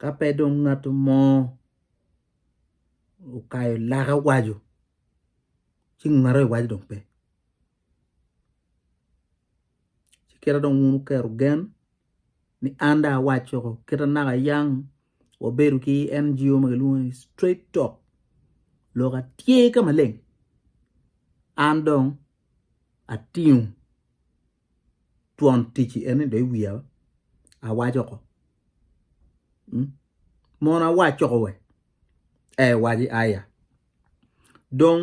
Ka pe dong ngat mo okayo lake owaco ci ngat aryo iwaco dong pe ci kit ma dong wun wuketo gen ni an dong awaco woko kit ma naka yang wabedo ki NGO ma kilwongo ni straight talk lok atye ka maleng an dong atingo. twon ticci en ni dong iwiya awac oko mono awac oko wek ee waci aya dong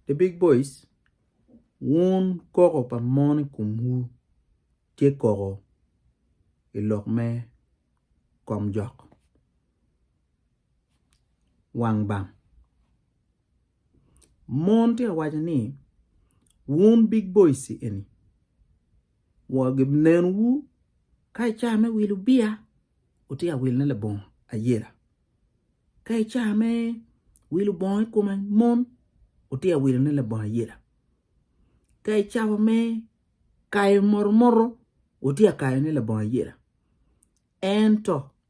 the big boys wun koko pa mon i komwu tye koko i lok me komjok wang bam. Mon tye ka waco ni wun big boys eni wanenowu ka i cawa me wilo biya wutye ka wilone labongo ayela ka i cawa me wilo bongo i kome mon wutye ka wilone labongo ayela ka i cawa me kayo motomoto wutye ka kayone labongo ayela ento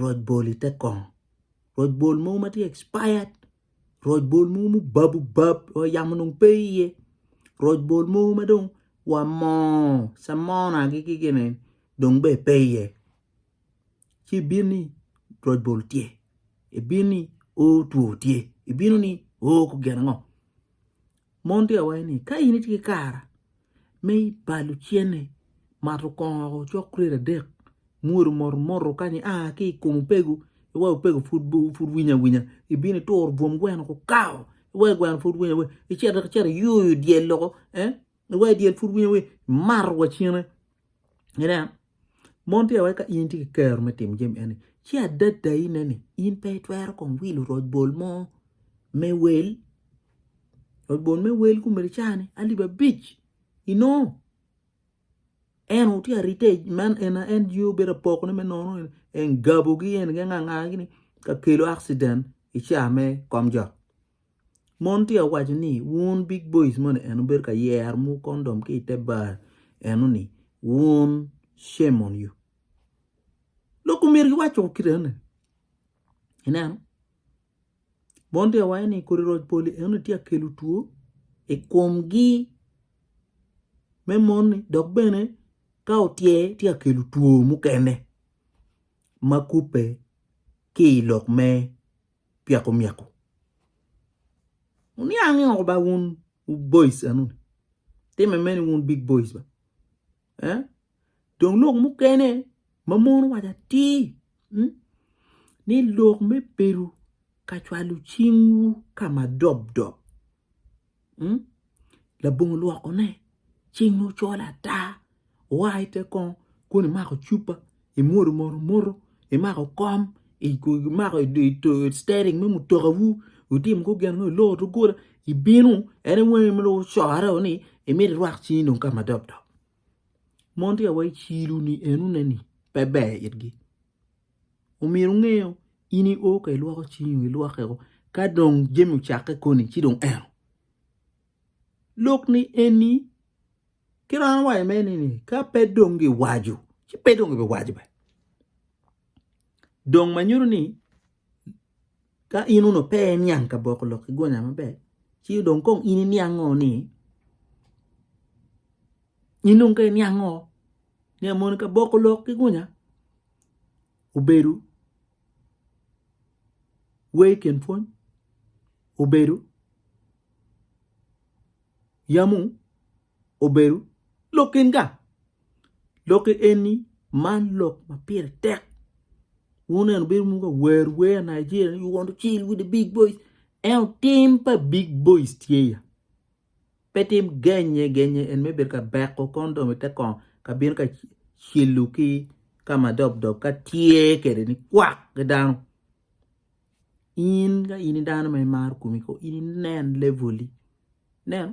roc bol i te kong roc bol mogo ma tye expired roc bol mogo ma obab obab wa yamo dong pe iye roc bol mogo ma dong wa moo samona gi ki gin ni dong bene pe iye ci ibin ni roc bol tye ibin ni oo two tye ibino ni oo gin ango Mon tye ka waco ni, Ka in itye ki kare me balo cente, mato kongo woko cok kret adek, mwuru moto moto kany ia ki i kom opego, iweko opego pud winyo awinya, ibino ituro bwom gweno ku kawo, iweko gweno pud winyo awinya, icito ki cito iyoyo dyel loko, iweko dyel pud winyo awinya, imato wa cene. Ineno? Mon tye iwaci ka in itye ki kero me timo jami eni ci adadayine ni in pe itwero kong wilo roc bol mo me wel, roc bol me wel ki omyero icane alip abic inongo en aye tye ka rite man en aye en jenge obedo apokone me nono ni engabogi eni ki angangagi ni ka kelo accident i caa me kom jok. Mon tye ka waco ni wun big boys moni eno bedo ka yero mo condom ki ite bar eno ni wun shame on you lok omyero giwac o kit eno ni ineno mon tye ka waco ni kodi roc poli eno ni tye ka kelo two i kom gi me mon ni dok bene ka otye tye ka kelo two mukene ma kubbe ki ilok me pyeko myeko wuniang oko ba wun wu boys enoni time mene wun big boys ba eh dong lok mukene ma mon owaco atir ni lok me bedo ka cwalo cingwu ka ma dob dob labongo olwokone cinge ocol ata oa i te kongo kun imako cupa imwodo mot omoto imako kom imako citering me mutokawu itimo kong gin ango iloro doggola ibino en i wangi ma dong ocorre ni imito irwak cingi dong ka ma dok dok mon tye awai i ciloni enoni pe ber itgi. omyero wunge in i oo ka ilwoko cingi oo ilwoke oo ka dong jami ocakke koni ci dong eno lok ni eni kit ma an awaco mere ni ka pe dong giwaco ci pe dong gibiwaco bene dong ma nyuto ni Ka in onongo pe iniang kaboko lok ki gunya maber ci dong kong in iniango ni in dong ka iniango ni moni kaboko lok ki gunya obedo wer i kin pwony obedo yamu obedo lok enga. Lokke eni man lok ma pire tek wuneno bedo mogo awer wer Nigeria ni you want to chill with the big boys ento tim pa big boys tye ya pe tim genye genye en me bedo ka beko kondom ite kong ka bino ka cilo ki ka ma dob dob ka tye kede ni kwak ki dano in ka in i dano ma imaro komi ko in inen level-li ineno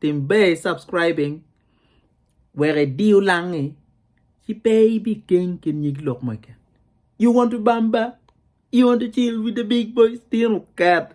tim ber subscribing wek idiyo langi ci pe ibikeng ki nyig lok ma keken you want to bamba you want to chill with the big boys tino ket.